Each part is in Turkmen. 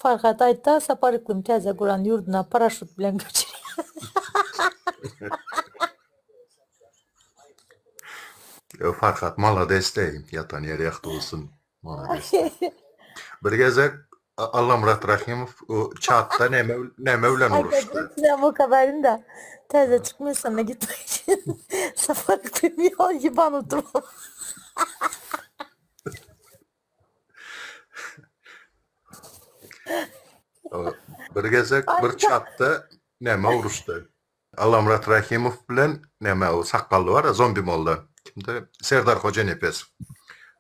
Farhat aýtda Sapar Yklym täze guran ýurduna paraşut bilen göçüriýär. Ýok Farhat malades deý ýatan ýeri ýagty bolsun malades deý. Bir gezek Allamyrat Rahimow o çatda neme neme bilen uruşdy. Sen bu kadarynda täze çykmyşsyna gitmek üçin Sapar Yklym ýol ýyban oturyp. Bir gezek bir çatda näme uruşdy. Alamrat Rahimow bilen näme o sakgally bar ya zombi molla. Kimde? Serdar Hojanepes.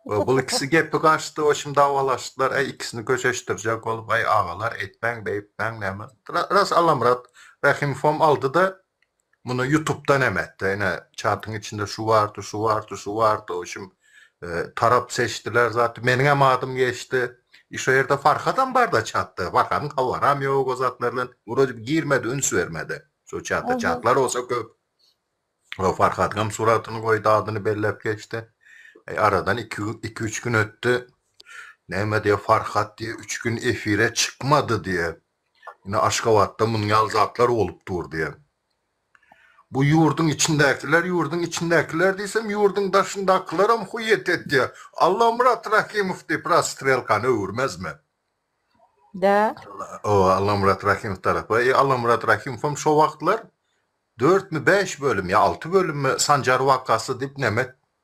O, bul ikisi gepi gaçdy, o şimdi davalaşdylar. Ay ikisini köşeştirjek olup, ay agalar etmäň, beýtmäň näme. Ras Alamrat Rahimowam aldy da Muny ýutupdan hem etdi. Ine, çatyň içinde şu bardy, şu bardy, şu bardy. Oýşum, tarap seçdiler zat. Meniňem adym geçdi. I şo ýerde Farhadam bar-da çatda. Farhadyň habaram ýok o zatlardan. Wrodebi girmedi, üns bermedi şo çata. Çatlar bolsa köp. Ýok, Farhadyňam suratyny goýdy, adyny belläp geçdi. Eý, aradan iki, iki-üç gün ötdi. Näme diýýär, Farhat diýýär, üç gün efire çykmady diýýär. Ine Aşgabatda munuň ýaly zatlar bolup dur diýen. Bu ýurduň içindäkiler, ýurduň içindäkiler diýsem, ýurduň daşyndakylaram huýet etýär. Allamyrat Rahimow diýip rastrelkany öwürmezmi? Dä. O, Allamyrat Rahimow tarapa. E, Allamyrat Rahimowam şo wagtlar dörtmi, bäş bölüm ýa alty bölümmi Sanjar wakasy diýip näme